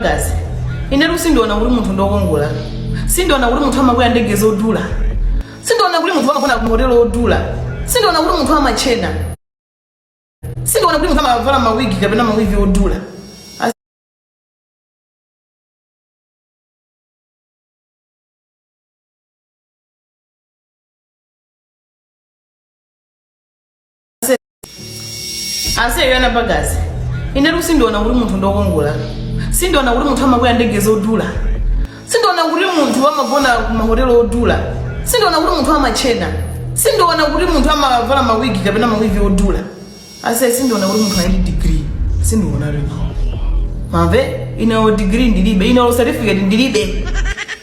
Guys, inetu sindiona kuti munthu ndokongola sindiona kuti munthu amakwera ndege zodula sindiona kuti munthu amagona kumahotelo odula sindiona kuti munthu amatchena sindiona kuti munthu amavala mawigi kapena mawigi odula As- ase Yana Bagazi inetu sindiona kuti munthu ndokongola sindiona kuti munthu amakwera ndege zodula sindiona kuti munthu amagona kumahotelo odula sindiona kuti munthu amatchena sindiona kuti munthu amavala mawigi kapena mawigi odula ase sindiona kuti munthu ali ndi digiri sindiona lino mwamva ineyo digiri ndilibe ineyo certificate ndilibe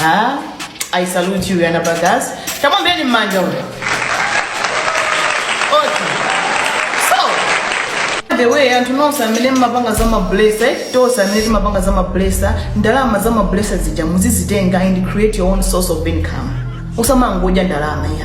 Ah, I salute you, Yana Bagazi. Tamuombereni m'manja. Okay. So, by the way, anthu nonse amene mmapanga za mablesa tonse amene timapanga za mablesa ndalama za mablesa zija muzizitenga and create your own source of income usamangodya ndalama ayi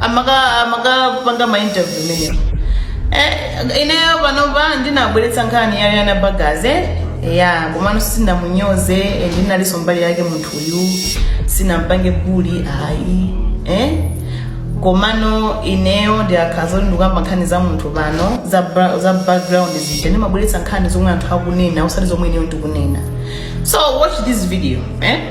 amaka amakapanga ma interview imeneyo eh, ineyo panopa ndinabweretsa nkhani ya Rihanna Bagaze ya komano sinamunyoze and ndinalinso mbali yake munthu uyu sinampange bully ayi eh? komano ineyo ndikakhala zoti ndikukamba nkhani za munthu pano za, bra- za background zija ndimabweretsa nkhani zomwe anthu akunena osati zomwe ineyo ndikunena so watch this video eh?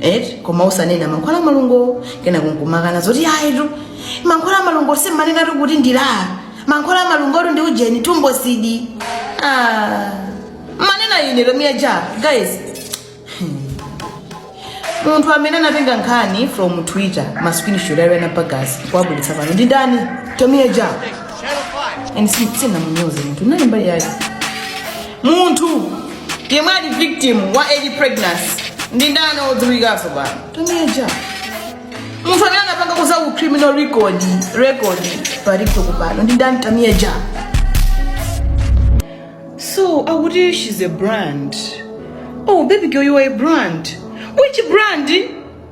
eti koma usanena mankhwala amalungo kenako nkumakana zoti ayitu mankhwala amalungo simmanenatu kuti ndi LA mankhwala amalungotu ndi ujeni Tumbocid ah. manena ine Tamia Ja guys munthu amene anatenga nkhani from twitter ma screenshot a Yana Bagazi kuwabweretsa pano ndi ndani Tamia Ja and sinamunyoze munthu nali mbali yake Munthu yemwe ali victim wa early pregnancy ndi ndani odziwikaso pano? Tamia Ja. Munthu amene anapanga kuza ku criminal record pa TikTok pano ndi ndani Tamia Ja? So akuti she's a brand. Oh baby girl you are a brand. Which brand?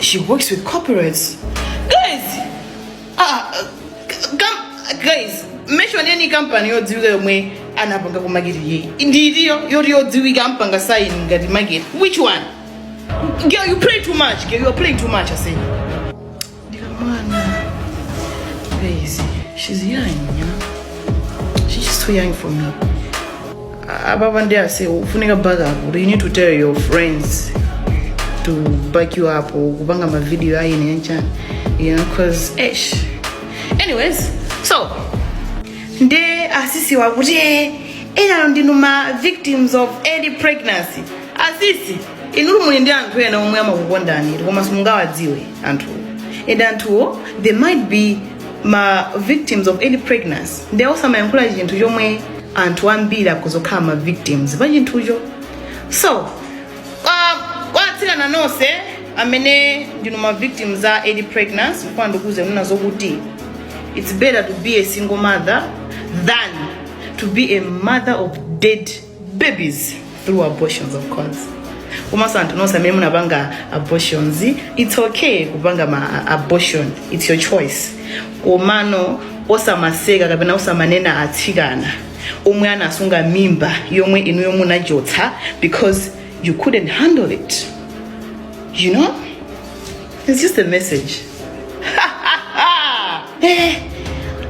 she works with corporates guys ah, kam- guys mention any company yodziwika yomwe anapanga ku market yeyi ndiriyo yoti yodziwika ampanga sign ngati market which one girl you play too much girl you are playing too much i say ababa ndi ase ufunika back up you need to tell your friends to back you up kupanga mavidiyo ayine yanchani you know cause esh anyways so nde asisiwa kuti eh, enalo ndinu ma victims of early pregnancy asisi inutu muli ndi anthu ena omwe amakukondani koma simungawadziwe anthuwo and anthuwo they might be ma victims of early pregnancy nde osamayankhula chinthu chomwe anthu ambiri akuzokhala ma victims pa chinthucho so kwa- kwa atsikana nonse amene ndinu ma victims a early pregnancy kwa ndikuuze kunena zokuti it's better to be a single mother than to be a mother of dead babies through abortions of course komanso anthu nonse amene munapanga abortions it's okay kupanga ma abortion it's your choice komano osamaseka kapena osamanena atsikana omwe anasunga mimba yomwe inuyo munachotsa because you couldn't handle it you know it's just a message eh,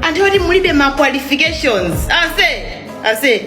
anthu oti mulibe ma qualifications ase ase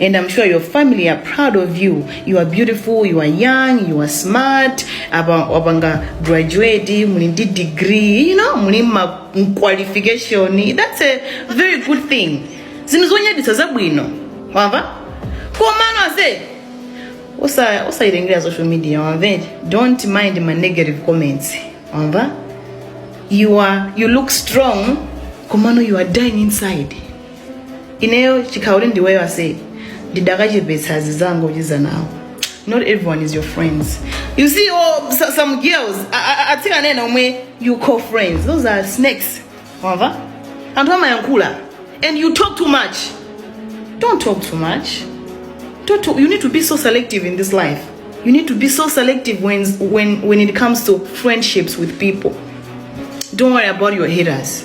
and I'm sure your family are proud of you. You are beautiful, you are young, you are smart. Apa wapanga graduate, muli ndi degree, you know, muli ma qualification. That's a very good thing. Zinthu zonyaditsa zabwino. Wamva? Komano ase. Osa osayirengera social media, wamva? Don't mind my negative comments. Wamva? You are you look strong, komano you are dying inside. ineyo chikhauli ndiweyo ase ndidakachepetsa azizanga uchiza nawo not everyone is your friends you see oh, so- some girls a- a- a- atsikana ena omwe you call friends those are snakes wamva anthu amayankhula and you talk too much don't talk too much don't talk, you need to be so selective in this life you need to be so selective when, when, when it comes to friendships with people don't worry about your haters